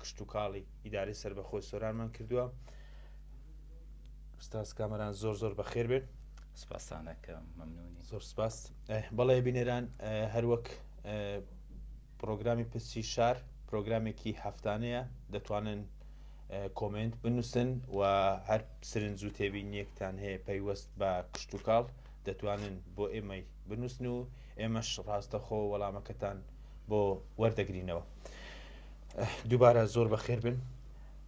کشتوکاڵی ئیدارەی سربەخۆی سۆرانمان کردووە ستاس کامەران زۆر زۆر بەخێر بێت سپاسانەکە مەمنونی زۆر سپاس بەڵێ بینێران هەروەک پرۆگرامی پرسی شار پرۆگرامێکی هەفتانەیە دەتوانن کۆمنت بنووسن و هەر سرنج و تێبینیەکتان هەیە پەیوەست بە کشت و کاڵ دەتوانن بۆ ئێمەی بنووسن و ئێمەش ڕاستەخۆ وەڵامەکەتان بۆ وەردەگرینەوە دووبارە زۆر بەخێر بن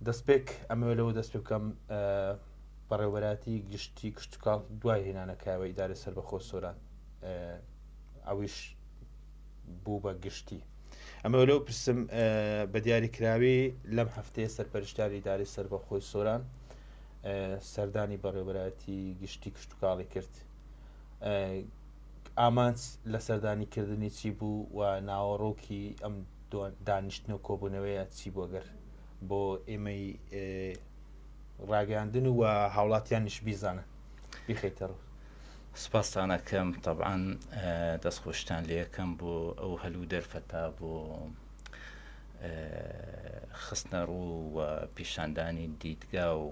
دەستپێک ئەمە لەوە دەست پێ بکەم بەڕێوەبەراتی گشتی کشتتوکاڵ دوای هێنانەکەوە ئیدارە سەر بە خۆ سۆران ئەویش بوو بە گشتی ئەمە لەو پرسم بە دیاریکراوی لەم هەفتەیە سەرپەرشتاری داری سەر بە خۆی سۆران سەردانی بەڕێوەبەتی گشتی کشتتوکاڵی کرد ئامانج لە سەردانی کردنی چی بوو و ناوەڕۆکی ئەم دانیشتن و کۆبوونەوەیە چی بۆ گەر بۆ ئێمەی ڕاگەاندن و هاوڵاتیانیش بیزانن بیخیتەڕوو سپاسانەکەم طبعاان دەستخۆشتان لەکەم بۆ ئەو هەلو دەرفەتا بۆ خستنە ڕوو و پیشاندانی دیدگا و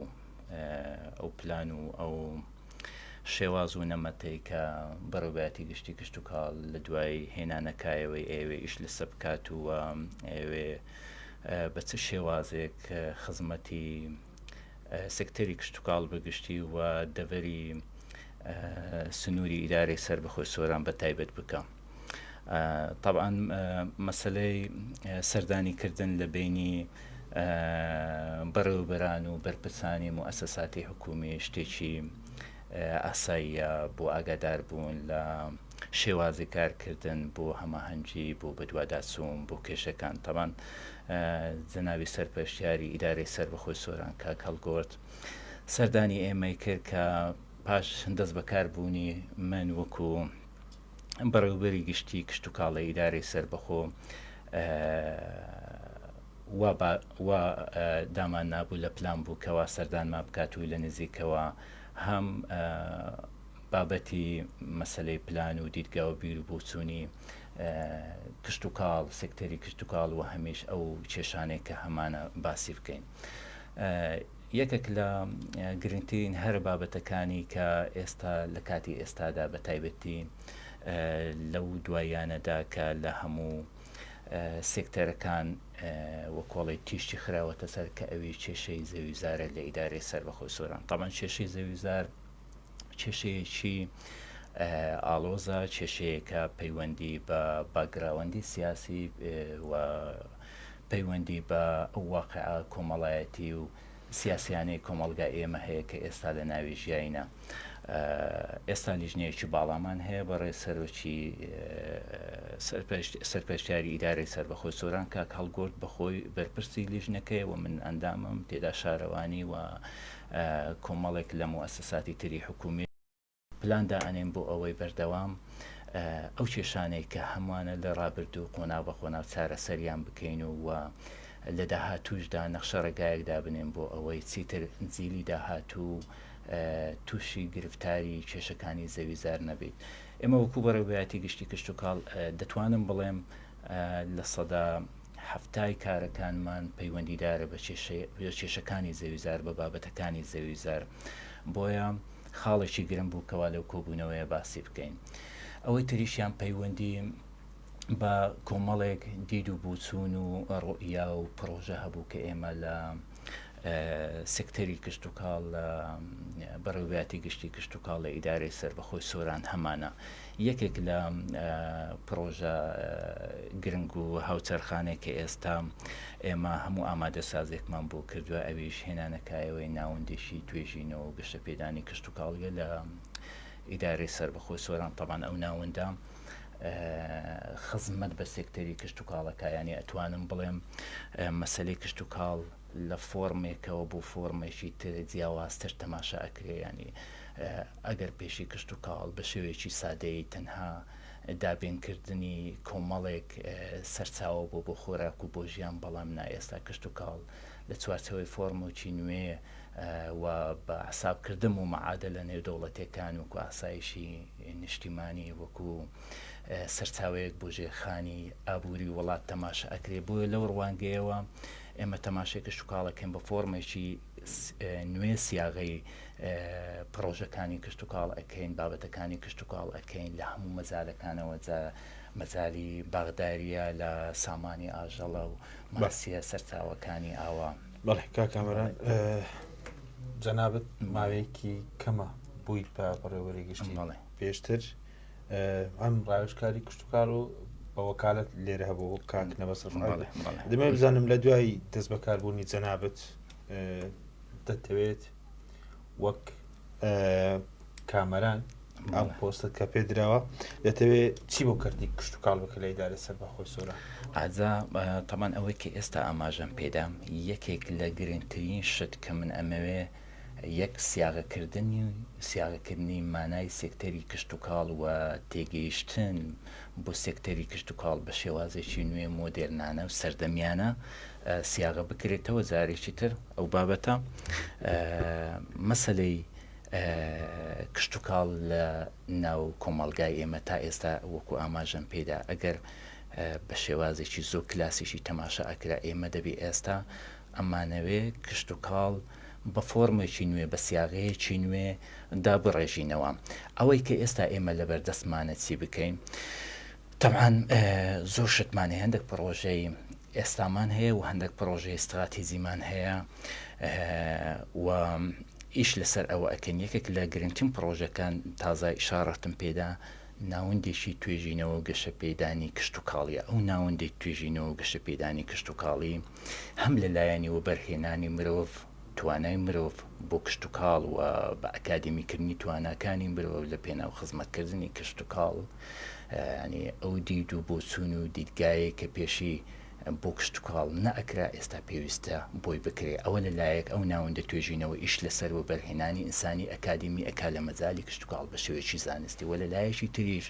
ئەو پلان و ئەو شێواز و نەمەتەی کە بەڕێوبەرایەتی گشتی کشتوکاڵ لە دوای هێنانەکایەوەی ئەیەوێ ئیش لەسە بکات و ئەیەوێ بە چ شێوازێک خزمەتی سکتەری کشتوکاڵ بەگشتی و دەڤەری سنووری ئیدارەی سەربەخۆی سۆران بە تایبەت بکە. تەبعەن مەسەلەی سەردانی کردن لە بینی بەڕێوبەران و بەرپرسانی موسەساتی حکومی شتێکی ئاساییە بۆ ئاگادار بوون لە شێوازی کارکردن بۆ هەماهەنگی بۆ بەدواداچوون بۆ کێشەکان تەبان جەناوی سەرپەشتیاری ئیدارەی سەر بەخۆی سۆران کا کەڵگۆرد سەردانی ئێمەی کرد کە پاش دەست بەکاربوونی من وەکو بەڕێوەبەری گشتی کشتوکاڵی ئیدارەی سەربەخۆ وا دامان نابوو لە پلان بوو کەوا سەردانمان بکات و لە نزیکەوە هەم بابەتی مەسەلەی پلان و دیدگا و بیر و بۆچوونی کشتوکاڵ سکتەری کشتوکاڵ و هەمیش ئەو کێشانەی کە هەمانە باسی بکەین. یەکێک لە گرنگترین هەرە بابەتەکانی کە ئێستا لە کاتی ئێستادا بە تایبەتی لەو دواییانەدا کە لە هەموو سێکتەرەکان و کۆڵی تیشتی خراوەتە سەر کە ئەوی کێشەی زەویوزارە لە ئیدارەی سەربەخۆی سۆران تەمان کێشەی زەویوزار کێشەیەکی ئاڵۆزە، کێشەیەکە پەیوەندی بە باکگراوەندی سیاسی و پەیوەندی بە ئەو واقعە کۆمەڵایەتی و سیاسیانەی کۆمەڵگای ئێمە هەیە کە ئێستا لە ناوی ژیاینە. ئێستا لیژنەیەکی باڵامان هەیە بەڕێ سەرۆکی سەرپەرشتیاری ئیدارەی سەربەخۆی سۆران کاک هەڵگورد بەخۆی بەرپرسی لیژنەکەیە و من ئەندامم تێدا شارەوانی و کۆمەڵێک لە موئەسەساتی تری حکوومی پلان دائەنێن بۆ ئەوەی بەردەوام ئەو کێشانەی کە هەمووانە لە ڕابردوو قۆناغ بە قۆناغ چارەسەریان بکەین و و لە داهاتووشدا نەخشە ڕێگایەک دابنێن بۆ ئەوەی چیتر جیلی داهاتوو تووشی گرفتاری کێشەکانی زەویزار نەبیت ئێمە وەکو بەڕێوبەتی گشتی کشتتوکاڵ دەتوانم بڵێم لە سەدا حەفتای کارەکانمان پەیوەندیدارە بە کێشەکانی زەویزار، بە بابەتەکانی زەویزار، بۆیە خاڵێکی گرنگ بوو کەوا لەو کۆبوونەوەیە باسی بکەین. ئەوەی تریشیان پەیوەندی بە کۆمەڵێک دید و بۆچوون و ڕوئیا و پڕۆژە هەبوو کە ئێمە لە سکتەری کشتوکاڵ لە بەڕێوبەتی گشتی کشتوکاڵ لە ئیدارەی سەربەخۆی سۆران هەمانە یەکێک لە پرۆژە گرنگ و هاوچەرخانێک کە ئێستا ئێمە هەموو ئامادە سازێکمان بۆ کردووە ئەویش هێنانەکایەوەی ناوەندێکی توێژینەوە گەشتە پێدانی کشتوکاڵیە لە ئیدارەی سەربەخۆی سۆران تەبان ئەو ناوەندە خزمەت بە سێکتەری کشت و کاڵەکە یانی ئەتوانم بڵێم مەسلەی کشت و کاڵ لە فۆرمێکەوە بۆ فۆرمێکی تر جیاوازتر تەماشا ئەکرێ ینی ئەگەر پێشی کشت و کاڵ بە شێوەیەکی سادەی تەنها دابینکردنی کۆمەڵێک سەرچاوە بۆ بۆ خۆراک و بۆ ژیان بەڵام نا ئێستا کشت و کاڵ لە چوارچەوەی فۆرمۆکی نوێ و بە حساب کردن بۆ معادەلە نێودەوڵەتیەکان وەکو ئاسایشی نیشتیمانی وەکو سەرچاوەیەک بۆ ژێرخانی ئابوری وڵات تەماشا ئەکرێ بۆیە لەو ڕوانگەیەوە ئێمە تەماشای کشتتوکاڵەکەم بە فۆرمێکی نوێ سیاغی پرۆژەکانی کشتتوکاڵ ئەەکەین بابەتەکانی کشتتوکاڵ ئەەکەین لە هەموو مەزارەکانەوە جا مەزاری باغداریە لە سامانی ئاژەڵە و ماسیە سەرچاوەکانی ئاوا. بەڵێ کاک کامەران جەنابەت ماوەیەکی کەمە بوویت بە بەڕێوەری گشتی بەڵێ پێشتر ئەم ڕاوشکاری کوشتتوکار و بە وەکالت لێرە هەبوو کاک نەبەسەر بەڵێ بەڵێ دەمێ بزانم لە دوای دەست بەکاربوونی جەنابەت دەتەوێت وەک کامەران ئەم پۆستت کە پێ دراوە دەتەوێ چی بۆ کردی کشت و کاڵ بکە لە ئیدارە سەر بەخۆی سۆرا ئازا تەمان ئەوەی کە ئێستا ئاماژەم پێدام یەکێک لە گرنگترین شت کە من ئەمەوێ یەک سیاغەکردنی و سیاغەکردنی مانای سێکتەری کشت و کاڵ و تێگەیشتن بۆ سێکتەری کشت و کاڵ بە شێوازێکی نوێ مۆدێرنانە و سەردەمیانە سیاغە بکرێتەوە جارێکی تر ئەو بابەتە مەسلەی کشتتوکاڵ لە ناو کۆمەلگای ئێمە تا ئێستا وەکو ئاماژەم پێدا ئەگەر بە شێوازێکی زۆ کلاسیشی تەماشا ئەکرا ئێمە دەبێ ئێستا ئەمانەوێ کشت و کاڵ بە فۆرمێکی نوێ بە سیاغەیەکی نوێ دابڕێژینەوە ئەوەی کە ئێستا ئێمە لەبەردەستمانە چی بکەین؟ تەبعەن زۆر شتمان هەیە هەندێک پڕۆژەی ئێستامان هەیە و هەندێک پڕۆژەی ستراتیزیمان هەیە و ئیش لەسەر ئەوە ئەکەن یەکێک لە گرنگترین پڕۆژەکان تازای شارڕتم پێدا ناوەندێکی توێژینەوە گەشە پێدانی کشت و کاڵیە ئەو ناوەندێک توێژینەوە گەشە پێدانی کشت و کاڵی هەم لە لایەنی وەبەرهێنانی مرۆڤ توانای مرۆڤ بۆ کشت و کاڵ و بە ئەکادمیکردنی تواناکانی مرۆڤ لە پێناو خزمەتکردنی کشت و کاڵ یانی ئەو دید و بۆچوون و دیدگایەی کە پێشی بۆ کشتوکاڵ نەئەکرا ئێستا پێویستە بۆی بکرێ ئەوە لە لایەک ئەو ناوەندە توێژینەوە ئیش لەسەر وەبەرهێنانی ئینسانی ئەکادیمی ئەکا لە مەجالی کشتوکاڵ بە شێوەیەکی زانستی وە لە لایەکی تریش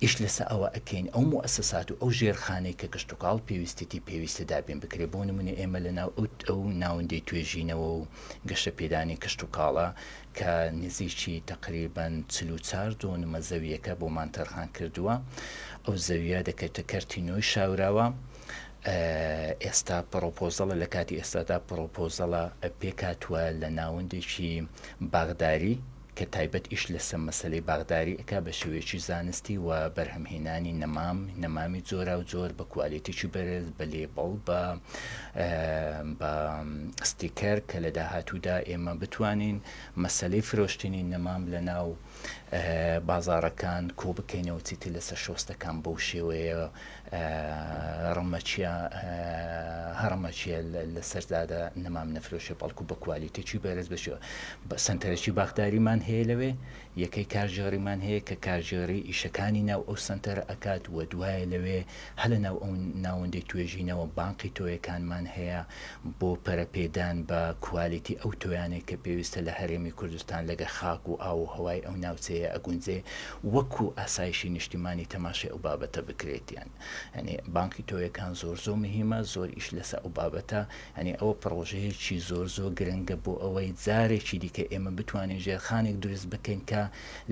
ئیش لەسە ئەوە ئەکەین ئەو موئەسەسات و ئەو ژێرخانەی کە کشتوکاڵ پێویستێتی پێویستە دابین بکرێ بۆ نمونە ئێمە لە ناو ئەو ناوەندەی توێژینەوە و گەشەپێدانی کشتوکاڵە کە نزیکی تەقریبەن چل و چار دۆنمە زەوییەکە بۆمان تەرخان کردووە، ئەو زەوییە دەکەوێتە کەرتی نۆی شاوراوە، ئێستا پڕۆپۆزەڵە لە کاتی ئێستادا پڕۆپۆزەڵە پێکهاتووە لە ناوەندێکی باخداری کە تایبەت ئیش لەسەر مەسەلەی باخداری ئەکا بە شێوەیەکی زانستی و بەرهەمهێنانی نەمام، نەمامی جۆراوجۆر بە کوالێتیی بەرز، بە لێبڵ، بە بە ستیکەر کە لە داهاتوودا ئێمە بتوانین مەسەلەی فرۆشتنی نەمام لە ناو بازارەکان کۆ بکەینەوە چیتر لەسەر شۆستەکان بەو شێوەیە ڕمەچە هەڕمەچە لەسەردادا نەمام نەفرۆشێ بەڵکو بە کوالیتێکی بەرز بەشێ سنتەرەکی باخداریمان هەیە لەوێ یەکەی کارگێڕیمان هەیە کە کارگێڕی ئیشەکانی ناو ئەو سەنتەرە ئەکات و دوایە لەوێ هەر لە ناو ئەو ناوەندەی توێژینەوە بانقی تۆیەکانمان هەیە بۆ پەرەپێدان بە کوالیتی ئەو تۆیانەی کە پێویستە لە هەرێمی کوردستان لەگە خاک و ئاو و هەوای ئەو ناوچەیە ئەگونجێ وەکو ئاسایشی نیشتیمانی تەماشای ئەو بابەتە بکرێتیان یانی بانقی تۆیەکان زۆر زۆر مهیمە زۆر ئیش لەسە ئەو بابەتە یانی ئەوە پڕۆژەیەکی زۆر زۆر گرنگە بۆ ئەوەی جارێکی دیکە ئێمە بتوانین ژێرخانێک دروست بکەین کە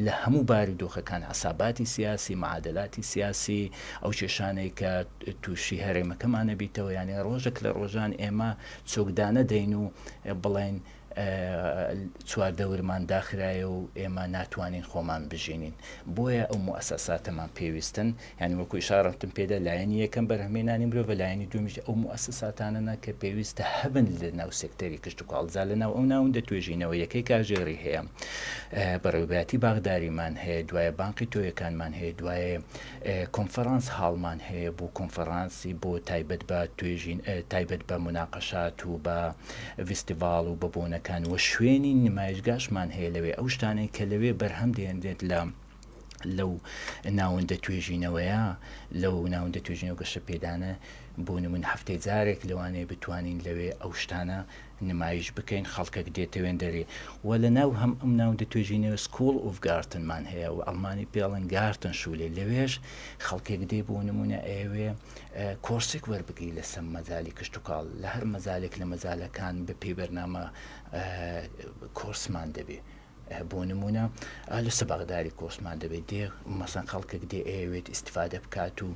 لە هەموو بارودۆخەکان عەساباتی سیاسی، معادلاتی سیاسی، ئەو کێشانەی کە تووشی هەرێمەکەمان نەبیتەوە، یانی ڕۆژێک لە ڕۆژان ئێمە چۆکدانەدەین و بڵێین، چواردەورمان داخرایە و ئێمە ناتوانین خۆمان بژینین بۆیە ئەو موسەساتەمان پێویستن یعنی وەکو شارڕتم پێدا لایەنی یەکەم بەرهمێنانی مرۆڤ لایەنی دومیش ئەو موسەساتانەنا کە پێویستە هەبن لە ناو سێکتەری کشت و کاڵزا لە ناو ئەو ناوندە توێژینەوە یەکەی کاژێڕی هەیە بەڕێوباتی باغداریمان هەیە دوایە بانقی تۆیەکانمان هەیە دوایە کۆنفرانس هاڵمان هەیە بۆ کۆنفرانسی بۆ تایبەت بە توێژین تایبەت بە موناقەشات و بە ڤیستیڤاڵ و بە بۆنەکان وە شوێنی نمایشگاشمان هەیە لەوێ ئەو شتانەی کە لەوێ بەرهەم دێنرێت لە لەو ناوەندە توێژینەوەیە لەو ناوەندە توێژینەوە گەشە پێدانە بۆ نمونە هەفتەی جارێک لەوانەیە بتوانین لەوێ ئەو شتانە نمایش بکەین خەڵکەک دێتەوێن دەرێ وە لە ناو هەم ئم ناوندە توێژینەوە سکوڵ ئوف گارتن مان هەیە وە ئەڵمانی پێڵن گارتن شولێ لەوێش خەڵکێک دێ بۆ نمونە ئەیەوێ کۆرسێک وەربگری لە سەم مەجالی کشتوکاڵ لە هەر مەجالێک لە مەجالەکان بە پێی بەرنامە کۆرسمان دەبێ بۆ نموونە لەسە بەغداری کۆسمان دەبێت دێ مەسەن خەڵکێک دێ ئەیەوێت ئیسفادە بکات و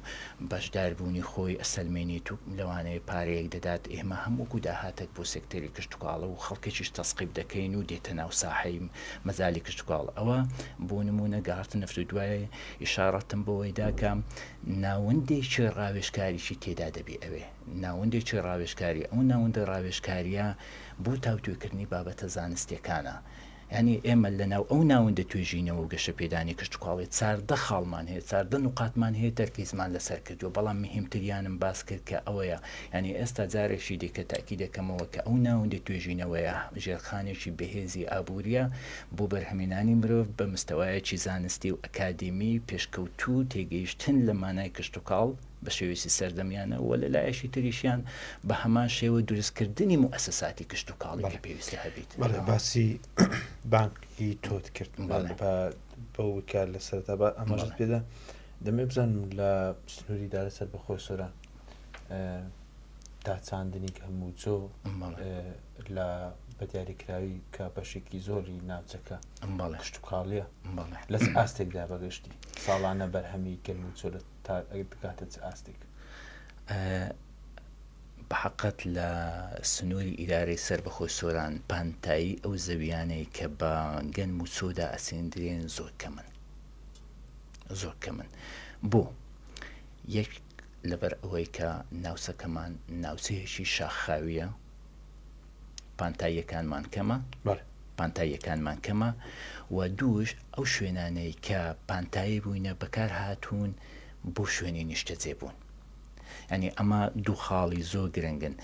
بەشداربوونی خۆی ئەسەلمێنێت و لەوانەیە پارەیەک دەدات ئێمە هەمووکو داهاتێک بۆ سێکتەری کشتوکاڵە و خەڵکێکیش تەسقیب دەکەین و دێتە ناو ساحەی مەجالی کشتوکاڵ ئەوە بۆ نموونە گەهەڕتە نەفت و دوای ئیشاڕەتم بەوەیدا کە ناوەندێکی ڕاوێژکاریی تێدا دەبێ ئەوێ ناوەندێکی ڕاوێژکاری، ئەو ناوەندە ڕاوێژکارییە بۆ تاوتوێکردنی بابەتە زانستییەکانە. یانی ئێمە لەناو ئەو ناوەندە توێژینەوە و گەشەپێدانی کشتوکاڵی چاردە خاڵمان هەیە، چاردە نوقاتمان هەیە تەرکیزمان لەسەر کردووە، بەڵام مهمتریانم باس کرد کە ئەوەیە، یانی ئێستا جارێکی دیکە تەئکید دەکەمەوە کە ئەو ناوەندە توێژینەوەیە ژێرخانێکی بەهێزی ئابوورییە بۆ بەرهەمێنانی مرۆڤ بە مستەوایەکی زانستی و ئەکادیمی پێشکەوتوو و تێگەیشتن لە مانای کشتوکاڵ بە شێوەیەکی سەردەمیانە و لە لایەکی تریشیان بە هەمان شێوە دروستکردنی موئەسەساتی کشتوکاڵی کە پێویستە هەبیت. بەڵێ باسی بانکی تۆت کرد بەڵێ. بە بە وکە لە سەرەتا بە ئەمەشت بەڵێ. پێدا دەمێ بزانم لە سنووری دارە سەربەخۆی سۆران ئە، تا چاندنی هەموو جۆ بەڵێ. ئە، لە بە دیاریکراوی کە بەشێکی زۆری ناوچەکە بەڵێ. کشتوکاڵییە بەڵێ. لە چ ئاستێکدا بە گشتی ساڵانە بەرهەمی گەنم و جۆ لە تا بگاتە چ ئاستێک؟ بەحەقەت لە سنووری ئیدارەی سەربەخۆی سۆران پانتایی ئەو زەویانەی کە بە گەنم و چۆدا ئەسێندرێن زۆر کەمن زۆر کەمن بۆ یەک لەبەر ئەوەی کە ناوچەکەمان ناوچەیەکی شاخاویە پانتاییەکانمان کەمە، پانتاییەکانمان کەمە و دووش ئەو شوێنانەی کە پانتایی بووینە بەکار هاتوون بۆ شوێنی نیشتەجێ بوون. یانی ئەمە دوو خاڵی زۆر گرنگن.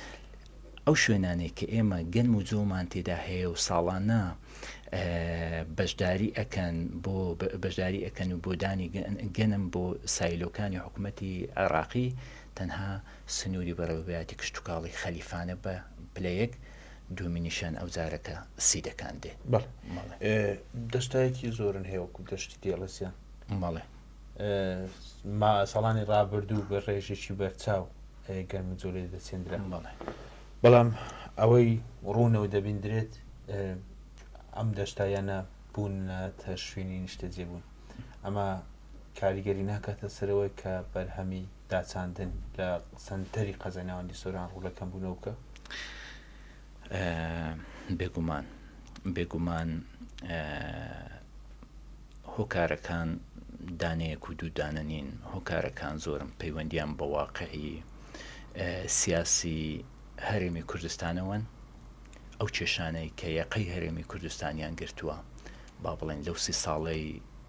ئەو شوێنانەی کە ئێمە گەنم و جۆمان تێدا هەیە و ساڵانە بەشداری ئەکەن بۆ بەشداری ئەکەن و بۆ دانی گەنم بۆ سایلۆکانی حکوومەتی عێراقی تەنها سنووری بەڕێوەبەیاتی کشتوکاڵی خەلیفانە بە پلە یەک دوومین نیشان ئەو زارەکە سی دەکان دێ. بەڵێ مەڵێ. دەشتایەکی زۆرن هەیە وەکو دەشتی دێڵەسیان. مەڵێ. ما ساڵانی ڕابردوو بە ڕێژێکی بەرچاو گەرم جۆلێ دەچێندرا. مەڵێ. بەڵام ئەوەی ڕوونەوە دەبیندرێت ئەم دەشتایانە بوونەتە شوێنی نیشتەجێبوون. ئەمە کاریگەری ناکاتە سەرەوەی کە بەرهەمی داچاندن لە سەنتەری قەزای ناوەندی سۆران ڕوو لە کەمبوونەوکە؟ بێگومان بێگومان هۆکارەکان دانەیەک و دوودانە نین هۆکارەکان زۆرم پەیوەندیان بە واقعی سیاسی هەرێمی کوردستانەوەن ئەو کێشانەی کە یەقەی هەرێمی کوردستانیان گرتووە با بڵێن لەو سی ساڵەی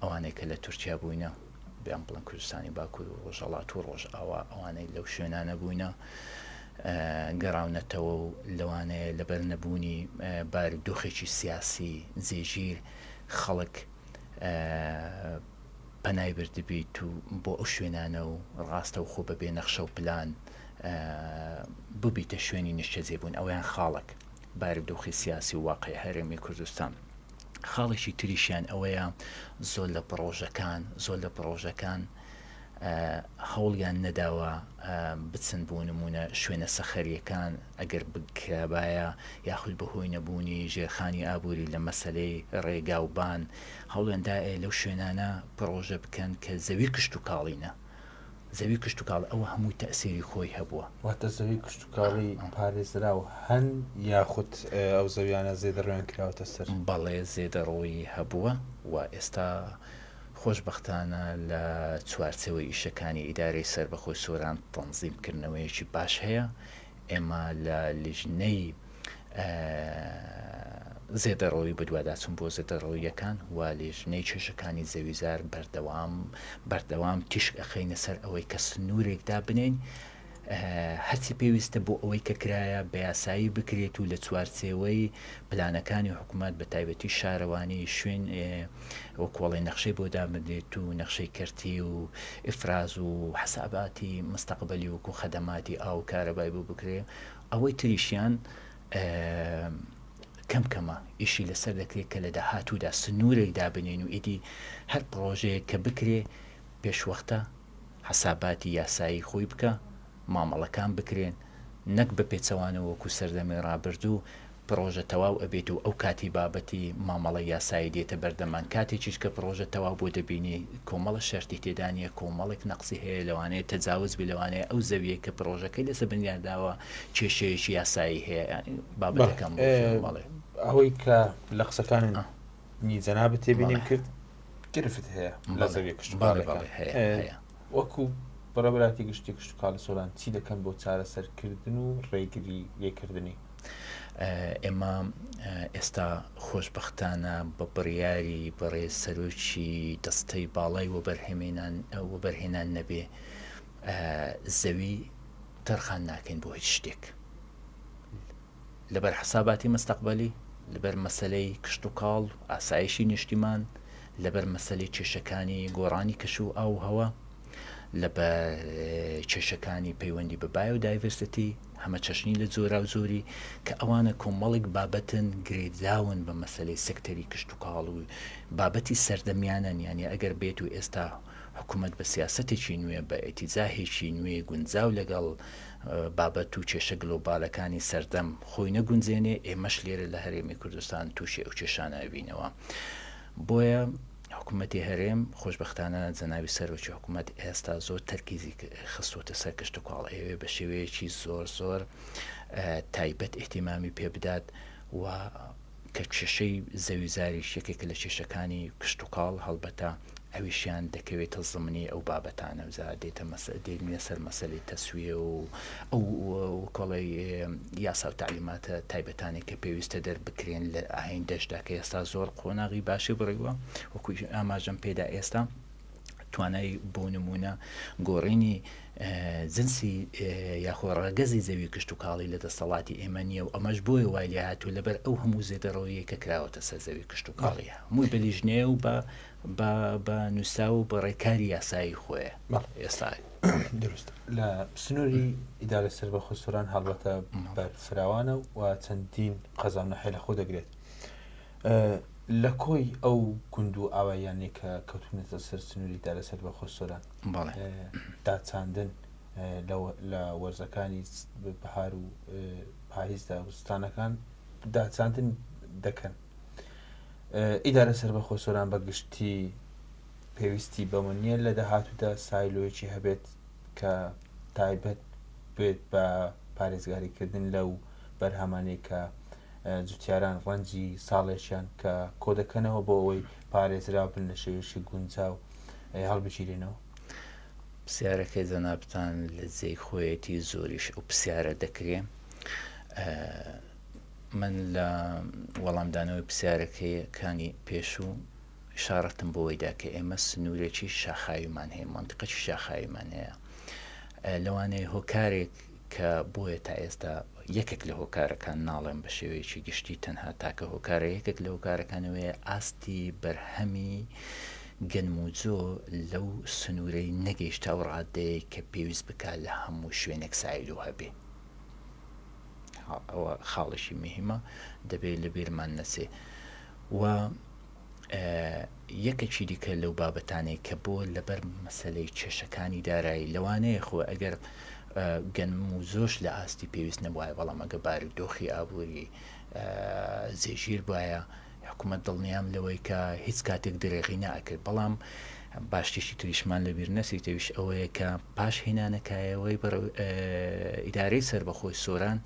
ئەوانەی کە لە تورکیا بووینە بیان بڵن کوردستانی باکوور و ڕۆژەڵات و ڕۆژئاوا ئەوانەی لەو شوێنانە بووینە گەڕاونەتەوە و لەوانەیە لەبەر نەبوونی بار و دۆخێکی سیاسی جێگیر خەڵک پەنای بردبیت و بۆ ئەو شوێنانە و ڕاستە و خۆ بە بێ نەخشە و پلان ببیتە شوێنی نیشتەجێبوون ئەویان خاڵک بار و دۆخی سیاسی و واقعی هەرێمی کوردستان. خاڵێکی تریشیان ئەوەیە زۆر لە پڕۆژەکان زۆر لە پڕۆژەکان هەوڵیان نەداوە بچن بۆ نمونە شوێنە سەخەریەکان ئەگەر بکرابایە یاخود بەهۆی نەبوونی ژێرخانی ئابووری لە مەسلەی ڕێگاوبان هەوڵێندا لەو شوێنانە پڕۆژە بکەن کە زەوی کشت و کاڵینە زەوی کشتوکاڵی ئەوە هەمووی تەئسیری خۆی هەبووە. واتە زەوی کشتوکاڵی پارێزراو هەن یاخود ئەو زەویانە زێدەڕۆیان کراوەتە سەر؟ بەڵێ زێدەڕۆیی هەبووە و ئێستا خۆشبەختانە لە چوارچێوەی ئیشەکانی ئیدارەی سەربەخۆی سۆران تەنزیم کردنەوەیەکی باش هەیە، ئێمە لە لیژنەی زێدەڕەوی بەدواداچون بۆ زێدەڕەوییەکان و لێژنەی کێشەکانی زەویزار بەردەوام بەردەوام تیشک ئەخەینە سەر ئەوەی کە سنوورێک دابنین هەرچی پێویستە بۆ ئەوەی کە کرایە بە یاسایی بکرێت و لە چوارچێوەی پلانەکانی حکوومەت بە تایبەتی شارەوانی شوێن و کۆڵی نەخشەی بۆ دامدرێت و نەخشەی کەرتی و ئفراز و حساباتی مستەقبلی وکو خەدەماتی ئاو کارەبای بۆ بکرێت ئەوەی تریشیان کەم کەمە ئیشی لەسەر دەکرێت کە لە داهاتوودا سنوورێک دابنین و ئیدی هەر پڕۆژەیە کە بکرێ پێشوەختە حەساباتی یاسایی خۆی بکە مامەڵەکان بکرێن نەک بە پێچەوانەوەکو سەردەمی ڕابردوو پڕۆژە تەواو ئەبێت و ئەو کاتی بابەتی مامەڵەی یاسایی دێتە بەردەمان کاتێکیش کە پڕۆژە تەواو بووە دەبینی کۆمەڵە شەرتی تێدا نیە کۆمەڵێک نەقسی هەیە لەوانەیە تەجاوز بێ لەوانەیە ئەو زەویەی کە پڕۆژەکەی لەسەر بنیات داوە کێشەیەکی یاسایی هەیە یانی بابەتەکەم ڕۆشنە بەڵێ. ئەوەی کە لە قسەکاننی جەنابت تێبینیم کرد گرفت هەیە لە زەویە کشتوکاڵەکان هەیە وەکو بەڕێبراتی گشتی کشتوکاڵی سۆران چی دەکەن بۆ چارەسەرکردن و ڕێگری لێکردنی؟ ئێمە ئێستا خۆشبەختانە بە بڕیاری بەڕێز سەرۆکی دەستەی باڵای وەبەرهێنان نەبێ زەوی تەرخان ناکەین بۆ هیچ شتێک لەبەر حساباتی مستەقبلی لەبەر مەسلەی کشت و کاڵ ئاسایشی نیشتیمان لەبەر مەسلەی کێشەکانی گۆڕانی کەش و ئاوهەوە لە بە کێشەکانی پەیوەندی بە بایۆ دایڤەرسەتی هەمە چەشنی لە جۆرا و جۆری کە ئەوانە کۆمەڵێک بابەتن گرێداون بە مەسلەی سەکتەری کشتتوکاڵ و بابەتی سەردەمیانەن یانێ ئەگەر بێت و ئێستا حکوومەت بە سیاسەتێکی نوێ بە ئێتیزاهێکی نوێ گونجاو لەگەڵ بابەت و کێشە گلۆبالەکانی سەردەم خۆی نەگونجێنێ ئێمەش لێرە لە هەرێمی کوردستان تووشی ئەو کێشانە ئەبینەوە بۆیە حکومەتی هەرێم خۆشبەختانە جەنابی سەرۆکی حکومەت ئێستا زۆر تەرکیزی خستۆتە سەر کشتوکاڵ ئەیەوێ بە شێوەیەکی زۆر زۆر تایبەت ئیهتیمامی پێ بدات و کە کێشەی زەوی زاریش یەکێکە لە کێشەکانی کشتوکاڵ هەڵبەتە ئەویشیان دەکەوێتە زمنی ئەو بابەتانە جا دێتە مەسە دێنە سەر مەسەلی تەسویە و ئەو کۆڵێ یاسا و تەعلیماتە تایبەتانەی کە پێویستە دەربکرێن لە ئایندەشدا کە ئێستا زۆر قۆناغی باشی بڕیوە وەکوی ئاماژەم پێدا ئێستا توانای بۆ نمونە گۆڕینی جنسی یاخۆ ڕەگەزی زەوی کشت و کاڵی لە دەستەڵاتی ئێمە نییە و ئەمەش بۆی وای لێ هاتوو لەبەر ئەو هەموو زێدەڕەوەیە کە کراوەتە سەر زەوی کشت و کاڵیە مووی بەلیژنێ و بە بە نووسا و بە ڕێکاری یاسایی خۆیە ئێستا دروست لە سنووری ئیدارە سەر بە خۆسۆران هەڵبەتە بەرفراوانە و چەندین قەزانە حێلە خۆ دەگرێت لە کۆی ئەو گوند و ئاواییانێک کە کەوتونەتە سەر سنووری دارە سەر بە خۆسۆران داچاندن لە وەرزەکانی بەهار و پاییزدا وستانەکان داچاندن دەکەن ئیدارە سەر بە خۆسۆران بەگشتی پێویستی بەوە نییە لە داهاتوودا سایلۆیەکی هەبێت کە تایبەت بێت بە پارێزگاریکردن لەو بەرهەمانەی کە جوتیاران ڕەنجی ساڵێکیان کە کۆدەکەنەوە بۆ ئەوەی پارێزرا بن لە شێوێکی گونجاو هەڵبگیرێنەوە پرسیارەکەی جەنابتان لە جێی خۆیەتی زۆریش ئەو پرسیارە دەکرێ من لە وەڵامدانەوەی پرسیارەکەیەکانی پێشوو ئیشاڕەتم بەوەی دا کە ئێمە سنوورێکی شاخاویمان هەیە، مەنتیقێکی شاخاویمان هەیە. لەوانەیە هۆکارێک کە بۆیە تا ئێستا یەکێک لە هۆکارەکان، ناڵێم بە شێوەیەکی گشتی تەنها تاکە هۆکارە، یەکێک لە هۆکارەکان ئەوەیە ئاستی بەرهەمی گەنموجۆ لەو سنوورەی نەگەیشتە ئەو ڕاددەیەی کە پێویست بکات لە هەموو شوێنێک سایلۆ هەبێ. ئەوە خاڵێکی مهیمە دەبێ لەبیرمان نەچێ. و یەکەکی دیکە لەو بابەتانەی کە بۆ لەبەر مەسلەی کێشەکانی دارایی لەوانەیە خۆ ئەگەر گەنم و زۆش لە ئاستی پێویست نەبواە بەڵام ئەگە باری دۆخی ئابووری زێژیر بواە حکوومەت دڵنیام لەوەی کە هیچ کاتێک درێغی ناکرد بەڵام باشتیشی تریشمان لە بیر نەسیتەویش ئەوەیە کە پاش هێنانەکایەوەی ئیدارەی سربەخۆی سۆران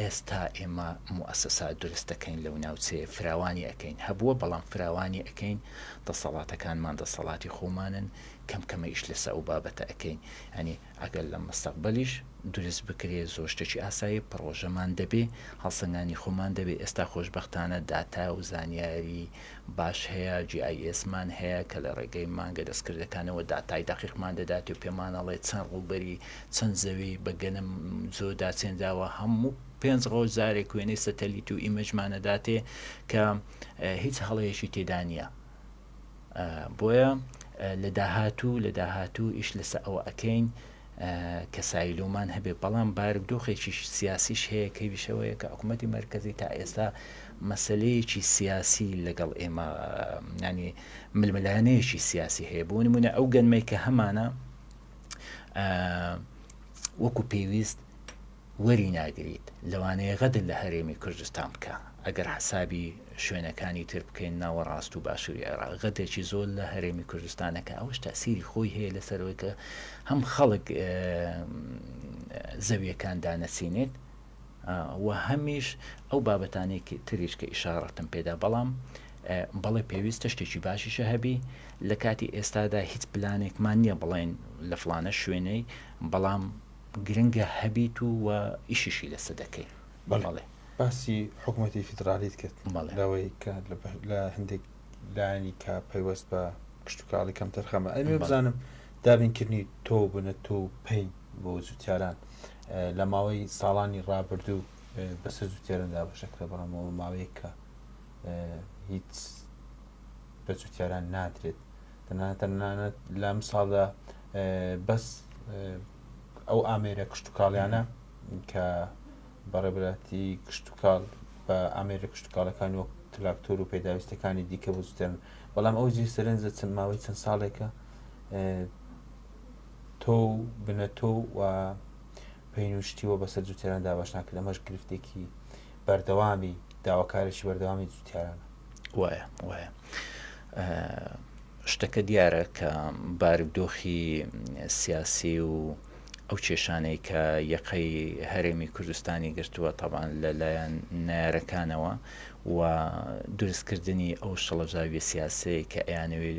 ئێستا ئێمە موئەسەسات دروست دەکەین لەو ناوچەیە فراوانی ئەکەین، هەبووە بەڵام فراوانی ئەکەین، دەسەڵاتەکانمان دەسەڵاتی خۆمانن، کەم کەمە ئیش لەسە ئەو بابەتە ئەکەین، یانی ئەگەر لە مستەقبەلیش دروست بکرێ زۆر شتێکی ئاساییە، پڕۆژەمان دەبێ، هەڵسەنگاندنی خۆمان دەبێ، ئێستا خۆشبەختانە داتا و زانیاری باش هەیە، GIS مان هەیە کە لە ڕێگەی مانگە دەستکردەکانەوە داتای دەقیقمان دەداتێ و پێمان ئەڵێ چەند ڕووبەری چەند زەوی بە گەنم زۆ داچێن داوە هەموو پێنج ڕۆژ جارێک وێنەی سەتەلیت و ئیمەجمانەداتێ کە هیچ هەڵەیەشی تێدا نییە بۆیە لە داهاتوو لە داهاتوو ئیش لەسە ئەوە ئەەکەین کە سایلۆمان هەبێ بەڵام بارک دۆخێکی سیاسیش هەیە کە ویشەوەیە کە حکوومەتتی مرکزی تا ئێستا مەسلەیەکی سیاسی لەگەڵ ئێمە ینی ململانەیەکی سیاسی هەیە بۆ نمونە ئەو گەنمەی کە هەمانە وەکو پێویست وەری ناگریت لەوانەیە غەدر لە هەرێمی کوردستان بکە ئەگەر حسابی شوێنەکانی تر بکەین ناوە ڕاست و باشووری عێراق غەدرێکی زۆر لە هەرێمی کوردستانەکە ئەوەش تاسیری خۆی هەیە لەسەرەوەی کە هەم خەڵک زەویەکان دانەسینێت و هەمیش ئەو بابەتانەی تریش کە ئیشاڕەتم پێدا بەڵام بەڵێ پێویستە شتێکی باشیشە هەبی لە کاتی ئێستادا هیچ پلانێکمان نییە بڵێن لە فلانە شوێنەی بەڵام گرنگە هەبیت و و ئیشیشی لەسە دەکەین بەڵێ باسی حکوومەتی فیدرالیت کرد لەوەی کە لە هەندێک لایانی کە پەیوەست بە کشتتوکاڵی کەم تەرخەمە ئەمێ بزانم دابینکردنی تۆ بنە تۆ پین بۆ جوتیاران لە ماوەی ساڵانی ڕابردوو بەسەر زوو تێرن دابشەکرێ بەڵامەوە ماوەیە کە هیچ بە جوتیاران نادرێت تەنانەت لەم ساڵدا بەس ئەو ئامێرە کشت و کاڵیانە کە بەڕێبراتی کشت و کاڵ بە ئامێرە کشت و کاڵەکان وەک تراکتۆر و پێداویستەکانی دیکە بزوتێن بەڵام ئەو جی سرنجە چەند ماوەی چەند ساڵێکە تۆ و بنە تۆ و پین و شتی وە بەسەر جوتیاران دابەش ناکرێت ئەمەش گرفتێکی بەردەوامی داواکارێکی بەردەوامی جوتیارانە. وایە وایە شتەکە دیارە کە بارودۆخی سیاسی و ئەو کێشانەی کە یەقەی هەرێمی کوردستانی گرتووە تەبان لەلایەن نارەکانەوە و دروستکردنی ئەو شڵەژاوی سیاسەیە کە ئەیانەوێت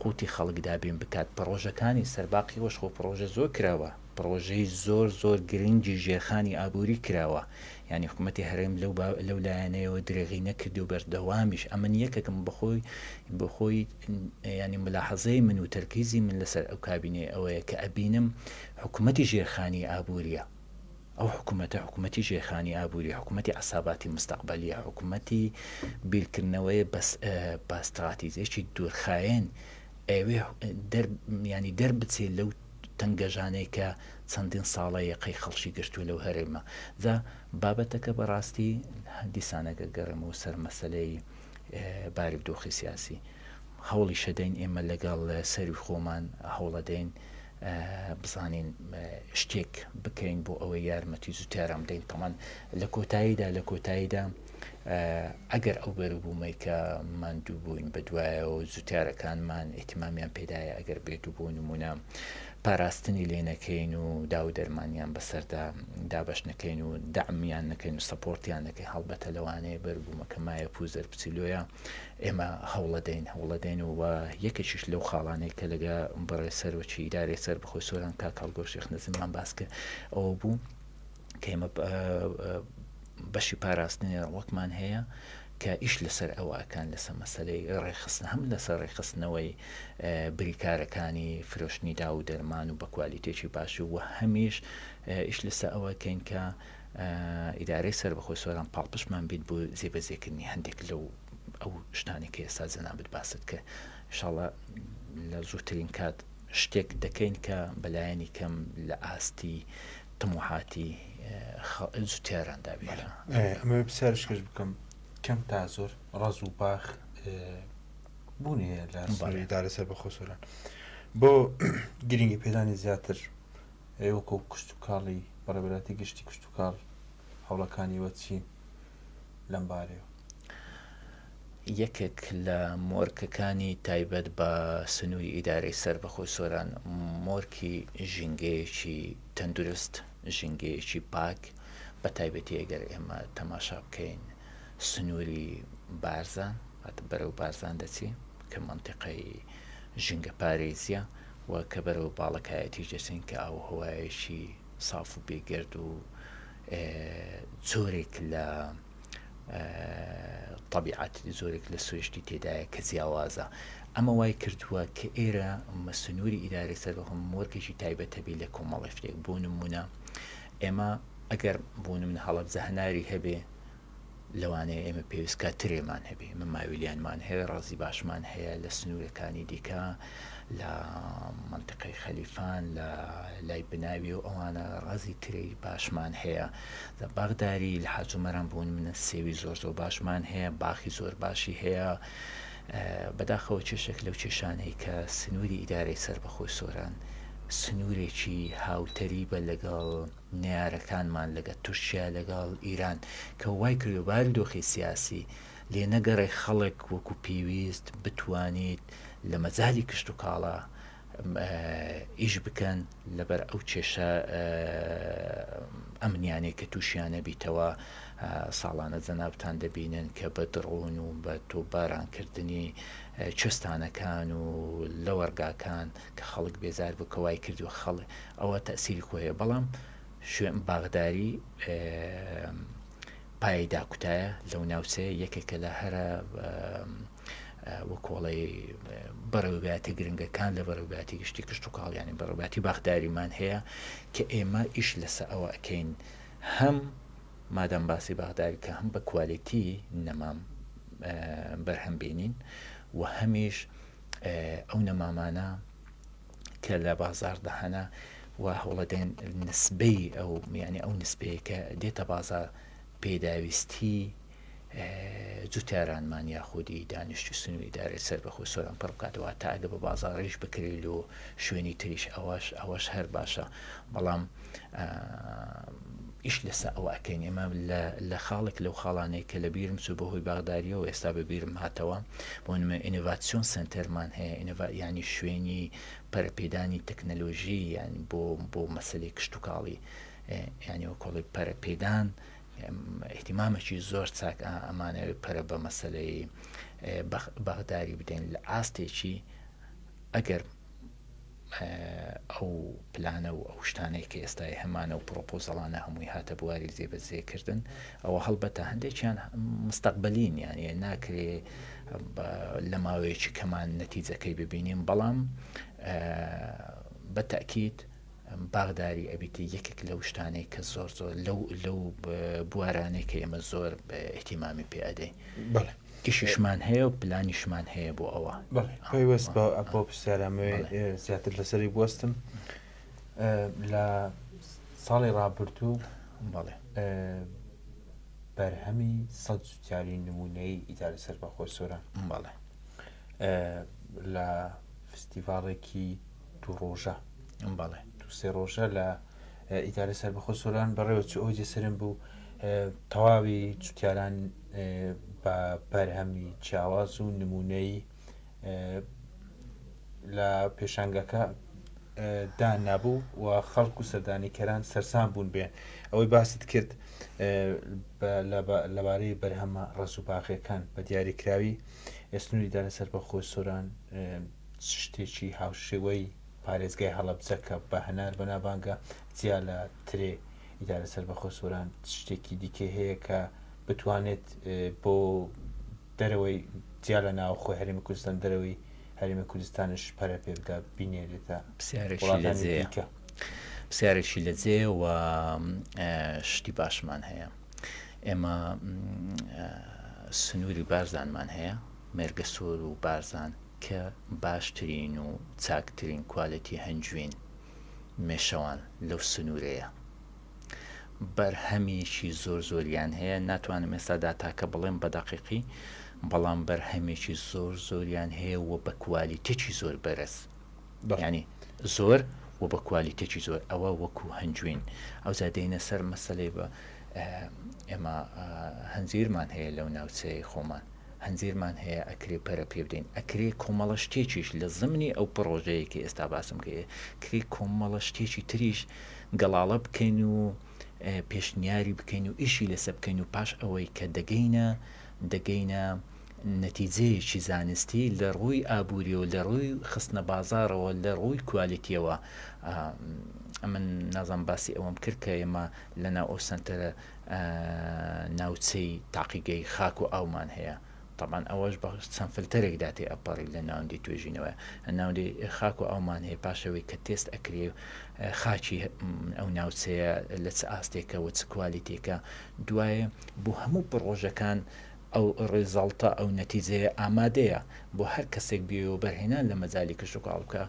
قوتی خەڵک دابین بکات پڕۆژەکانی سەرباقی ئەوەش خۆ پڕۆژە زۆر کراوە پڕۆژەی زۆر زۆر گرنگی ژێرخانی ئابوری کراوە یانی حکومەتی هەرێم لەو لەو لایەنەیەوە درێغی نەکردو بەردەوامیش ئەمن یەکەکم بەخۆی بەخۆی ینی ملاحەزەی من و تەرکیزی من لەسەر ئەو کابینەی ئەوەیە کە ئەبینم حکومەتی ژێرخانی ئابوریە ئەو حکومەتە حکومەتی ژێرخانی ئابووری، حکومەتی عەساباتی مستەقبەلییە، حکومەتی بیرکردنەوەیە بە ستڕاتیجێکی دوورخایەن، ئەیەوێ یانی دەربچێ لەو تەنگەژانەی کە چەندین ساڵە یەقەی خەڵکی گرتووە لەو هەرێمە. جا بابەتەکە بە ڕاستی دیسان ئەگەر گەڕێمەوە سەر مەسەلەی بارودۆخی سیاسی، هەوڵیشەدەین ئێمە لەگەڵ سەروی خۆمان هەوڵەدەین بزانین شتێک بکەین بۆ ئەوەی یارمەتی زووتاران بدەین تەمان لە کۆتاییدا لە کۆتاییدا ئەگەر ئەو بەروبوومەی کە ماندوو بووین بە دوایەوە زووتارەکانمان ئیتمامیان پێدایە ئەگەر بێت و بۆ نمونە پاراستنی لێ نەکەین و دا و دەرمانیان بەسەردا دابش نەکەین و دامیان نەکەین و سەپۆرتیان نەکەین هەڵبەتە لەوانەیە بەربوومەکە مایە پوزەر بچیلۆیە ئێمە هەوڵەدەین هەوڵەدەین و یەکێکیش لەو خاڵانەی کە لەگە بەڕێ سەرۆکی ئیدارەی سەر بەخۆی سۆران کا کاڵگۆ شێخ نەزممان باس کرد ئەوە بوو کەمە بەشی پاراستنی ڕوەکمان هەیە کە ئیش لەسەر ئەوەکان لەسە مەسلەی ڕێخستن هەم لەسەر ڕێخستنەوەی بریکارەکانی فرۆشتنی دا و دەرمان و بە کوالیتێکی باش و هەمیش ئیش لەسە ئەوەکەین کە ئیدارەی سەربەخۆی سۆران پاڵپشتمان بیت بۆ جێبەجێکردنی هەندێک لەو ئەو شتانەی کە ئێستا جەنابت باست کرد انشاءاللە لە زووترین کات شتێک دەکەین کە بەلایەنی کەم لە ئاستی تموحاتی جوتیاراندا بێت ئەمە پرسیارش کەش بکەم کەم تا زۆر ڕز و باخ بوونی هەیە لە ئیدارە سەربەخۆ سۆران بۆ گرنگی پێدانی زیاتر ئەی وەکو کشتوکاڵی بەڕێوەبەرایەتی گشتی کشتوکاڵ هەوڵەکانی وە چین لەم بارەیە یەکێک لە مۆرکەکانی تایبەت بە سنووری ئیدارەی سەر بە خۆی سۆران مۆرکی ژینگەیەکی تەندروست ژینگەیەکی پاک بە تایبەتی ئەگەر ئێمە تەماشا بکەین سنووری بارزان هات بەرەو بارزان دەچی کە منتیقای ژینگە پارێزیە و کە بەرەو باڵەکایەتیش دەچن کە ئاووهەوایەکی ساف و بێ گەرد و جۆرێک لە تەبیعەت جۆرێک لە سروشتی تێدایە کە جیاوازە ئەمە وای کردووە کە ئێرە مەسنووری ئیدارەی سەر بەخۆم مۆرکێکی تایبەتەبی لە کۆمەڵی شتێک بۆ نمونە ئێمە ئەگەر بۆ من هەڵەبجە هەناری هەبێ لەوانەیە ئێمە پێویست کات ترێمان هەبێ من ماویلیانمان هەیە ڕازی باشمان هەیە لە سنوورەکانی دیکە لە منتقەی خەلیفان لە لای بناوی و ئەوانە ڕازی تری باشمان هەیە لە باغداری لە حاجومەران بوون منە سێوی زۆر زۆر باشمان هەیە باخی زۆر باشی هەیە بەداخەوە چێشێک لەو چێشانەی کە سنووری ئیدارەی سەر بەخۆی سۆران سنوورێکی هاوتەریبە لەگەڵ نەیارەکانمان لەگە تورکیا لەگەڵ ئیران کە وای کردوە بارودۆخی سیاسی لێ نەگەڕێ خەڵک وەکو پێویست بتوانیت لە مەجالی کشت و کاڵا ئیش بکەن لەبەر ئەو کێشە ئەمنیانەی کە تووشیانە بیتەوە ساڵانە جەنابتان دەبینن کە بە دڕون و بە تۆبارانکردنی چستانەکان و لەوەرگاکان کە خەڵک بێزار بوو کە وای کردووە خەڵ ئەوە تەئسیری خۆی هەیە بەڵام شوێن باغداری پایەی داکوتایە لەو ناوچەیە یەکێکە لە هەرە وەکۆڵی بەڕێوباتی گرنگەکان لە بەڕێوباتی گشتی کشت و کاڵیانی بەڕێباتی باخداریمان هەیە کە ئێمە ئیش لەسە ئەوە ئەکەین هەم مادەم باسی باغداری کە هەم بە کوالێتی نەمام بەرهەم بینین و هەمیش ئەو نەمامانە کە لە بازاڕدا هەنە و هەوڵەدەن نسبەی ئەو یعنی ئەو نسبەیە کە دێتە بازار پێداویستی جوتارانمان یاخودی دانیشتی سنووری دارێت سەر بەخۆ سۆران پڕ بکاتەوە تا ئەگە بە بازاڕیش بکرێت لۆ شوێنی تریش ئەوەش ئەوەش هەر باشە بەڵام ئیش لەسە ئەوە ئەکەین ئێمە لە خاڵێک لەو خاڵانەیە کە لە بیرم چوو بە هۆی باغداریەوە ئێستا بە بیرم هاتەوە بۆنمە ئینڤاتسیۆن سنتەرمان هەیە ینی شوێنی پەرپێدانی تەکنەلۆژی یان بۆ بۆ مەسلەی کشتتوکاڵی ینی وە کۆڵی پەرپێدان احتیمامەکی زۆر چاک ئەمانەوێت پەرە بە مەسلەی بەغداری بدەین لە ئاستێکی ئەگەر ئەو پلانە و ئەو شتانەی کە ئێستای هەمانە و پڕۆپۆزەڵانە هەمووی هاتە بواری جێبەجێ کردن ئەوە هەڵبەتە هەندێکیان مستەقبەلین یانە ناکرێ لە ماوەیەکی کەمان نەتیجەکەی ببینیم بەڵام بە تاکیت باغداری ئەبیتی یەکێک لەو شتانەی کە زۆر زۆر لەو لەو بوارانەی کە ئێمە زۆر ئەحتیمامی پێدەین کشیشمان هەیە و پلانیشمان هەیە بۆ ئەوە پەیوەست بە ئەپۆ پرسیارامەوێ زیاتر لەسەری بستم لە ساڵی ڕابردوو بەڵێ بەرهەمی سە جوتیاری نمونەی ئیداری سەر بە خۆی سۆران بەڵێ لە فستیڤالێکی دوو ڕۆژە بەڵێ دو سێ ڕۆژە لە ئیداری سەر بەخۆ سۆران بەڕێوە چ ئەو جێسرم بوو تەواوی جوتیاران بە بەرهەمی جیاواز و نمونەیی لە پێشانگەکە دا نابوو و خەڵک و سەردانیکەران سەرسان بوون بێن ئەوەی باست کرد لەبارەی بەرهەمە ڕز و باغەکان بە دیاریکراوی ئێسنوری دا لەسەر بە خۆی سۆران شتێکی هاوشێوەی پارێزگای هەڵەبزەکە بە هەنار بەنابانگە جیا لە ترێ ئیدارە سەربەخۆ سۆران شتێکی دیکەی هەیە کە بتوانێت بۆ دەرەوەی جیا لە ناوخۆی هەرێمی کوردستان دەرەوەی هەرێمی کوردستانش پەرە پێ بدا بینێرێتە وڵاتانی دیکە پرسیارێکی لە جێ و شتی باشمان هەیە ئێمە سنووری بارزانمان هەیە مێرگە سۆر و بارزان کە باشترین و چاکترین کوالەتی هەنجوین مێشەوان لەو سنوورەیە بەرهەمیەکی زۆر زۆریان هەیە ناتوانم ئێستا داتاکە بڵێم بە دەقیقی بەڵام بەرهەمێکی زۆر زۆریان هەیە و بە کوالیتێکی زۆر بەرز ینی زۆر و بە کوالیتێکی زۆر ئەوە وەکو هەنجوین ئەو زادەینە سەر مەسلەی بە ئێمە هەنجیرمان هەیە لەو ناوچەیە خۆمان هەنجیرمان هەیە ئەکرێ پەرە پێ بدەین ئەکرێ کۆمەڵە شتێکیش لە زمنی ئەو پڕۆژەیە کە ئێستا باسم کە کری کۆمەڵە شتێکی تریش گەڵاڵە بکەین و پێشنیاری بکەین و ئیشی لەسە بکەین و پاش ئەوەی کە دەگەینە دەگەینە نەتیجەیەکی زانستی لە ڕووی ئابووری و لە ڕووی خستنە بازارەوە لە ڕووی کوالێتیەوە من نازم باسی ئەوەم کرد کە ئێمە لەناو ئەو سنتەرە ناوچەی تاقیگەی خاک و ئاومان هەیە تەبعەن ئەوەش بە چەند فلتەرێک دا تێ ئەپەڕی لە ناوەندی توێژینەوەیە ناوەندی خاک و ئاومان هەیە پاشەوەی کە تێست ئەکرێ خاکی ئەو ناوچەیە لە چ ئاستێکە و چ کوالیتێکە دوایە بۆ هەموو پڕۆژەکان ئەو ڕێزاڵتە ئەو نەتیجەیە ئامادەیە بۆ هەر کەسێک بێ و بەرهێنان لە مەجای کشتوکاڵ بکە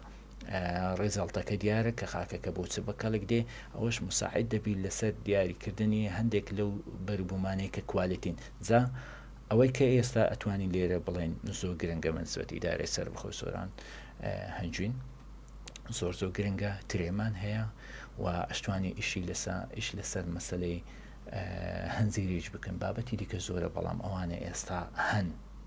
ڕیزەڵتەکە دیارە کە خاکەکە بۆ چ بە کەڵک دێ ئەوەش مساعد دەبیت لەسەر دیاریکردنی هەندێک لەو بەروبوومانەی کە کوالێتین جا ئەوەی کە ئێستا ئەتوانین لێرە بڵێن زۆر گرنگە من سوەت ئیدارەی سەر بەخۆ سۆران هەنجوین زۆر زۆر گرنگە ترێمان هەیە و ئەشتوانی ئیشی لەسا ئیش لەسەر مەسلەی هەنجیریش بکەن بابەتی دیکە زۆرە بەڵام ئەوانە ئێستا هەن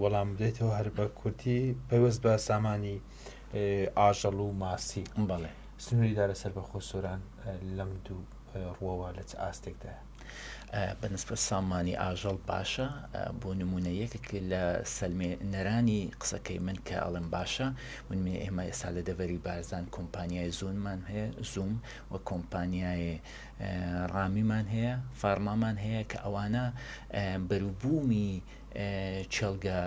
وەڵام بدەیتەوە هەر بە کورتی پەیوەست بە سامانی ئاژەڵ و ماسی بەڵێ سنووری دا لەسەر بەخۆ سۆران لەم دوو ڕووەوە لە چ ئاستێکدا بەنسبە سامانی ئاژەڵ باشە بۆ نمونە یەکێک لە سەلمێ نەرانی قسەکەی من کە ئەڵم باشە من من ئێمە ئێستا لە دەڤەری بارزان کۆمپانیای زۆنمان هەیە زووم و کۆمپانیای ڕامیمان هەیە فارمامان هەیە کە ئەوانە بەروبوومی کێڵگە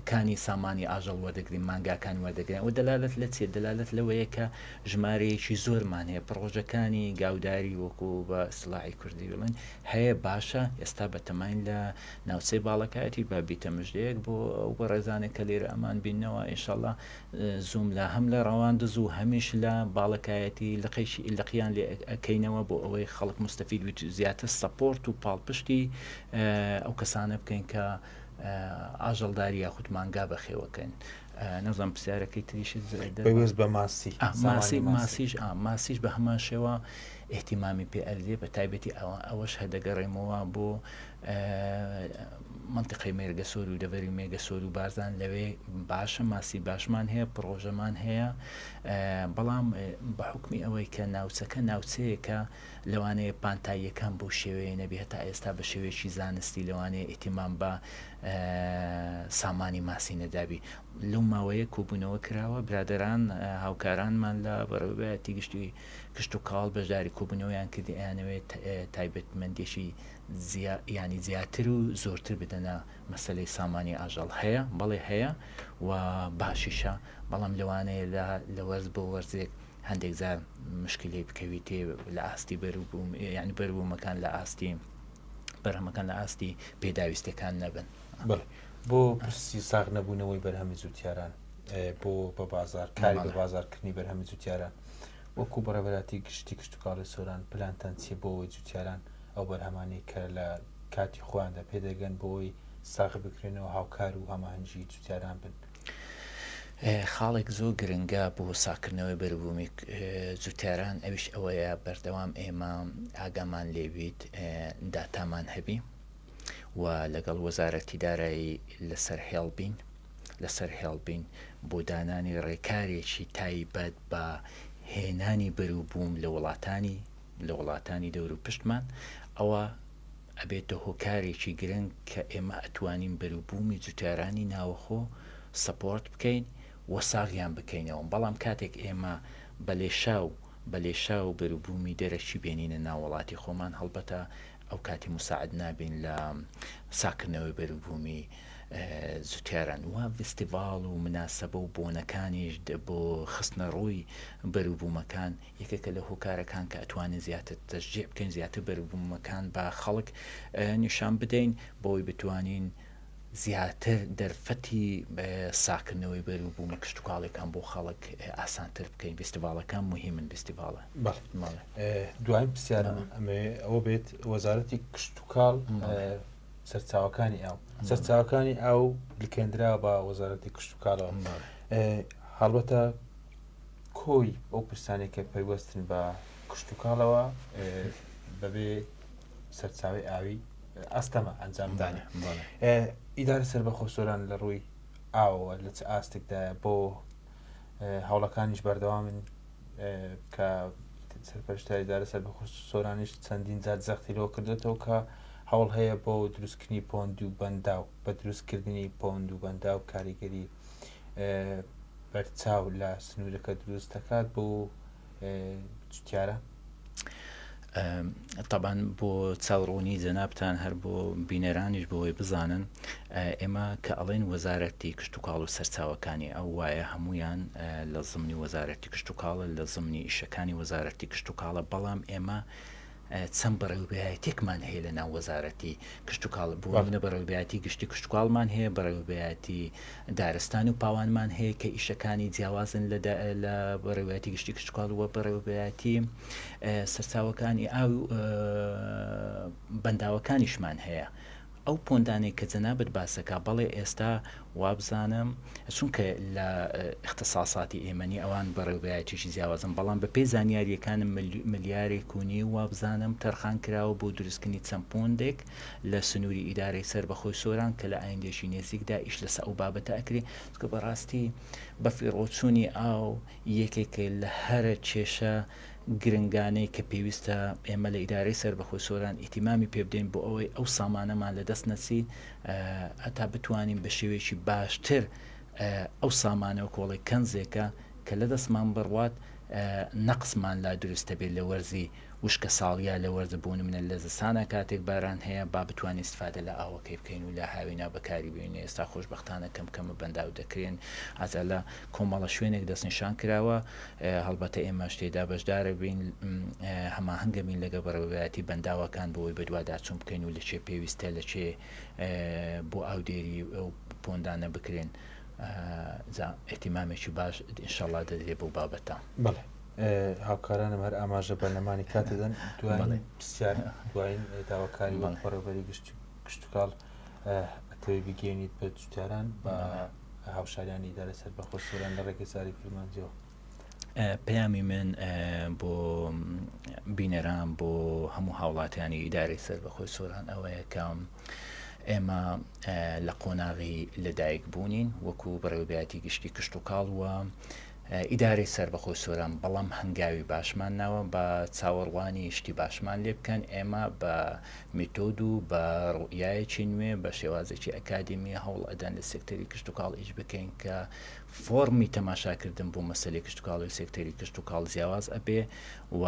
کانی سامانی ئاژەڵ وەردەگرین مانگاکان وەردەگرن ئەوە دەلالت لە چێ دەلالت لەوەیە کە ژمارەیەکی زۆرمان هەیە پڕۆژەکانی گاوداری وەکو بە سلاحی کوردی بڵێن هەیە باشە ئێستا بەتەماین لە ناوچەی باڵەکایەتی بابیتە مژدەیەک بۆ بە ڕێزانێک کە لێرە ئەمان بینەوە ئیشەڵە زووم لا هەم لە ڕەواندز و هەمیش لە باڵەکایەتی لقێکی لقیان لێ ئەکەینەوە بۆ ئەوەی خەڵک مستەفید بیت زیاتر سەپۆرت و پاڵپشتی ئەو کەسانە بکەین کە ئاژەڵداری یاخود مانگا بەخێوەکەن نەزان پرسیارەکەی تریشت بەوێز بە ماسی ماسی ماسیش ماسیش بە هەمان شێوە احتیمامی پێ ئەردێ بە تایبەتی ئەوە ئەوەش هەدەگەڕێمەوە بۆ مەنتیقەی مێرگەسۆر و دەڤەری مێگەسۆر و بارزان لەوێ باشە ماسی باشمان هەیە پڕۆژەمان هەیە بەڵام بە حکمی ئەوەی کە ناوچەکە ناوچەیەکە لەوانەیە پانتاییەکان بۆ شێوەیە نەبێ هەتا ئێستا بە شێوەیەکی زانستی لەوانەیە ئیتیمان بە سامانی ماسی نەدابی لەو ماوەیە کۆبوونەوە کراوە برادران هاوکارانمان لە بەڕێوبەتی گشتی کشت و کاڵ بەشداری کۆبوونەوەیان کردیانەوێت تایبەتمەندێکی یانی زیاتر و زۆرتر بدەنە مەسەلەی سامانی ئاژەڵ هەیە بەڵێ هەیە و باشیشە بەڵام لەوانەیە لە لە وەرز بۆ وەرزێک هەندێک جار مشکلی بکەویتێ لە ئاستی بەروبووم یعنی بەروبوومەکان لە ئاستی بەرهەمەکان لە ئاستی پێداویستەکان نەبن بڵێ بۆ پرسی ساغ نەبوونەوەی بەرهەمی جوتیاران بۆ بە بازار کاری بە بازارکردنی بەرهەمی جوتیاران وەکو بەڕێبەراتی گشتی کشتتوکاڵی سۆران پلانتان چیە بۆەوەی جوتیاران ئەو بەرهەمانەی کە لە کاتی خۆیاندا پێدەگەن بۆی ساغ بکرێنەوە هاوکار و هەماهەنگی جوتیاران بن. خاڵێک زۆر گرنگە بۆ ساغکردنەوەی بەروبوومی جوتیاران ئەویش ئەوەیە بەردەوام ئێمە ئاگامان لێبیت داتامان هەبی و لەگەڵ وەزارەتی دارایی لەسەر هێڵ بین لەسەر هێڵ بین بۆ دانانی ڕێکارێکی تایبەت بە هێنانی بەروبووم لە وڵاتانی لە وڵاتانی دەورو پشتمان ئەوا ئەبێتە هۆکارێکی گرنگ کە ئێمە ئەتوانین بەروبوومی جوتیارانی ناوەخۆ سەپۆرت بکەین و ساغیان بکەینەوە بەڵام کاتێک ئێمە بە لێشاو بە لێشاو بەروبوومی دەرەکی بێنینە ناو وڵاتی خۆمان هەڵبەتە ئەو کاتی موساعد نابین لە ساکردنەوەی بەروبوومی جوتیاران و ڤیستیڤاڵ و مناسەبە و بۆنەکانیش بۆ خستنەڕووی بەروبوومەکان یەکێکە لە هۆکارەکان کە ئەتوانین زیاتر تەشجیع بکەین زیاتر بەروبوومەکان بە خەڵک نیشان بدەین بۆی بتوانین زیاتر دەرفەتی ساکردنەوەی بەر و بوومە کشتتوکاڵێکان بۆ خەڵک ئاسانتر بکەین فستیڤالەکان مهمن فستیڤالە دوای پرسیارم ئەوە بێت وەزارەتی کشتتوکاڵ سەرچاوەکانی ئاو سەرچاوەکانی ئاو لکێنرا بە وەزارەتی کشتتوکالەوە هەڵبەتە کۆی ئەو پرسانەی کە پەیوەستن بە کشتوکاڵەوە بەبێ سەرچاوی ئاوی ئەستەمە ئەنجامدانە ئیدار سەر بە خۆسۆران لە ڕووی ئاوە لە چ ئاستێکدا بۆ هەوڵەکانیش بەردەوامن کە سەرپەرشتاری دارە سەر بە سۆرانیش چەندین جات زەختی لەوە کردێتەوە کە هەوڵ هەیە بۆ دروستکردنی پۆند و بەنداو بە دروستکردنی پۆند و بەنداو کاریگەری بەرچاو لە سنوورەکە دروست دەکات بۆ جوتیارە؟ تەبان بۆ چاوڕوونی جەنابان هەر بۆ بینەرانیش بۆی بزانن ئێمە کە ئەڵێن وەزارەتی کشت و کاڵ و سەرچاوەکانی ئەو وایە هەمویان لە زمنی وەزارەتی کشت و کاڵە لە زمنی ئیشەکانی وەزارەتی کشت و کاڵە بەڵام ئێمە چەند بەڕێوبەرایەتێکمان هەیە لە ناو وەزارەتی کشتوکاڵ بۆ نمونە بەڕێوبەرایەتی گشتی کشتوکاڵمان هەیە بەڕێوبەرایەتی دارستان و پاوانمان هەیە کە ئیشەکانی جیاوازن لە بەڕێوبەرایەتی گشتی کشتوکاڵ وە بەڕێوبەرایەتی سەرچاوەکانی ئاو و بەنداوەکانیشمان هەیە ئەو پۆندانەی کە جەنابت باسەکا بەڵێ ئێستا وابزانم چونکە لە اختساساتی ئێمە نی ئەوان بەڕێوبەرایەتیی جیاوازن بەڵام بە پێی زانیاریەکانم ملیارێک و نیو وابزانم تەرخان کراوە بۆ دروستکردنی چەند پۆندێک لە سنووری ئیدارەی سەر بەخۆی سۆران کە لە ئایندێکی نێزیکدا ئیش لەسە ئەو بابەتە ئەکرێ چکە بەڕاستی بەفیڕۆچوونی ئاو یەکێکە لە هەرە کێشە گرنگانەی کە پێویستە ئێمە لە ئیدارەی سەربەخۆی سۆران ئیتیمامی پێ بدەین بۆ ئەوەی ئەو سامانەمان لە دەست نەچی هەتا بتوانین بە شێوەیەکی باشتر ئەو سامانەوە کۆڵی کەنزێکە کە لە دەستمان بڕوات نەقسمان لا دروستە بێت لە وەرزی وشکە ساڵیە لە وەرزە بۆ نمونە لە زستانا کاتێک باران هەیە با بتوانین استفادە لە ئاوەکەی بکەین و لە هاوینا بەکاری بێنین ئێستا خۆشبەختانە کەم کەمە بەنداو دەکرێن ئازا لە کۆمەڵە شوێنێک دەستنیشان کراوە هەڵبەتە ئێمەش تێدا بەشدارە بین هەماهەنگە بین لەگە بەڕێوەبەراتی بەنداوەکان بۆی بەدواداچون بکەین و لە چێ پێویستە لە چێ بۆ ئاودێری ئەو پۆندانە بکرێن زا ئیتیمامێکی باش ئینشەڵا دەدرێ بەو بابەتە. بەڵێ. هاوکارانم هەر ئاماژە بە نەمانی کات دەدەن دوایین پرسیار دوایین داواکاری وەک بەڕێوەبەری گشت کشتتوکاڵ ئەتەوەی بگەێنیت بە جوتاران بە هاوشاریانی ئیدارە سەر بەخۆ سۆران لە ڕێگەی ساری کرمانجیەوە پەیامی من بۆ بینەران بۆ هەموو هاوڵاتیانی ئیدارەی سەر بەخۆی سۆران ئەوەیە کە ئێمە لە قۆناغی لەدایک بوونین وەکو بەڕێوبیاتی گشتی کشت و کاڵوە ئیدارەی سەربەخۆی سۆران بەڵام هەنگاوی باشمان ناوە با چاوەڕوانی شتی باشمان لێ بکەن، ئێمە بە میتۆد و بە ڕوئیایەکی نوێ بە شێوازێکی ئەکادیمی هەوڵ ئەدەن لە سێکتەری کشتوکاڵ ئیش بکەین کە فۆڕمی تەماشاکردن بۆ مەسەلەی کشتوکاڵی و سێکتەری کشتوکاڵ جیاواز ئەبێ و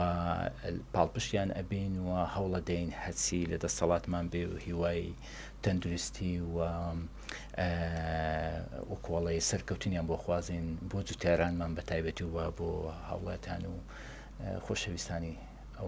پاڵپشتیان ئەبین و هەوڵەدەین هەرچی لە دەستەڵاتمان بێ و هیوای تەندروستی و و کۆڵێ سەرکەوتنیان بۆ خوازین بۆ جوتیارانمان بە تایبەتی و بۆ هاوڵاتیان و خۆشەویستانی ئەو